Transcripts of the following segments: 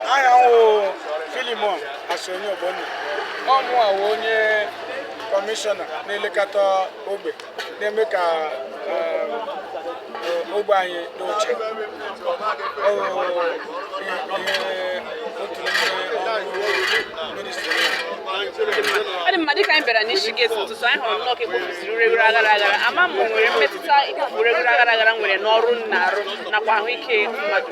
aha m wụ Philemon Asonye Ogbonna ọ mụwa wụ onye kọmishọna na-elekọta ogbe na-eme ka eh, ogbe anyị dị ụcha Ọ wụ ihe otu n'ime ọrụ ministri ọ dị mma dịka anyị bịara n'isi gate ụtụtụ anyị hụrụ nnọọ ka e kpofusiri ureghure aghara aghara ama m o nwere mmetụta ikpofu ureghure aghara aghara nwere n'ọrụ unu na-arụ nakwa ahụike mmadụ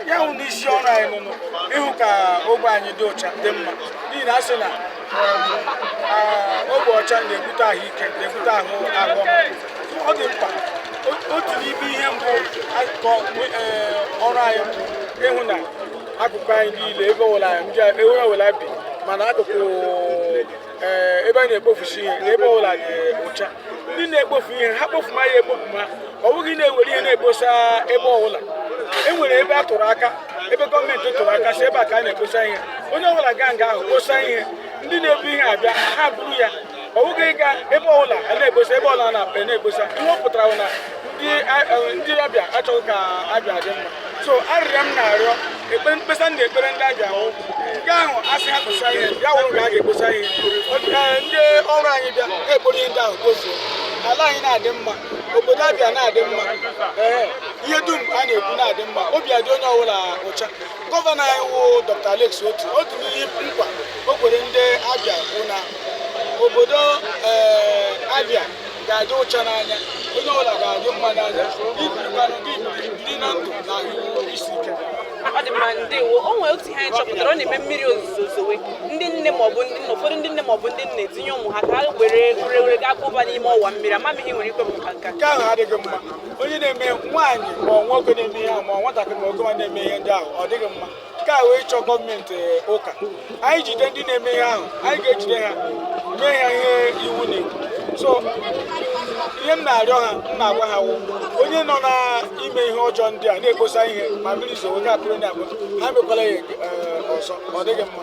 ya wụ na isi ọrụ anyị wụnụ ịhụ ka ogbe anyị dị ọcha dị mma n'ihi na a sị na ah, ogbe ọcha na-ebute ahụike na-ebute ahụ ahụ ọ dị mkpa otu n'ime ihe mbụ eh, ọrụ anyị bụ ịhụ na akụkụ anyị niile ebe ọbụla ndị ewere ọbụla bi ma n'akụkụ ee ebe a na-ekpofusi ihe na ebe ọbụla dị ụcha ndị na-ekpofu ihe ha kpofuma ya ekpofuma ọ bụghị na e were ihe na-ekposa ebe ọbụla e nwere ebe a tụrụ aka ebe gọọmenti tụrụ aka sị ebe a ka a na-ekposa ihe onye ọbụla gaa nga ahụ kposa ihe ndị na-ebu ihe abịa ha buru ya ọ bụghị ịga ebe ọbụla a na-ekposa ebe ọbụla a na-ekposa ihe ọ pụtara bụ na ndị a- eh, ndị Abia achọghị ka Abia dị mma so arịrịọ m na-arịọ mkpesa m na-ekpere ndị Abia wụ nke ahụ a sị ha kposa ihe ya wụrụ nga a ga-ekposa ihe ndị ọrụ anyị bịa ga-ekporo ihe ndị ahụ kpofuo ala anyị na-adị mma obodo Abia na-adị mma ee ihe dum a na-ekwu na-adị mma obi adị onye ọbụla ụcha gọvanọ anyị wụ Dr. Alex Otti otu n'ihe nkwa o kwere ndị Abia bụ na obodo ee Abia ga-adị ụcha n'anya onye ọbụla ga-adị mma n'anya i birikwanụ gị biri na ndụ na ahụ isi ike ọ dị mma ndewo o nwere otu ihe anyị chọpụtara ọ na-eme mmiri ozuzo zowe ndị nne maọbụ ụfọdụ ndị nne maọbụ ndị nna ezinye ụmụ ha ka ha were ureghure gaa kpoba n'ime ọwa mmiri ama m ihe i nwere ikwu maka nke a nke ahụ adịghị mma onye na-eme nwaanyị ma ọ nwoke na-eme ihe ahụ ma ọ nwatakịrị ma okenye na-eme ihe ndị ahụ ọ dịghị mma nke a wụ ịchọ gọọmenti eh, ụka anyị jide ndị na-eme ihe ahụ anyị ga-ejide ha mee ha ihe iwu na-ekwu so ihe m na-arịọ ha m na-agwa ha wụ onye nọ na-eme ihe ọjọọ ndị a na-ekposa ihe ma mmiri zowe na-abụrụ na abụ ha emekwala ya eh, ọzọ ọ dịghị mma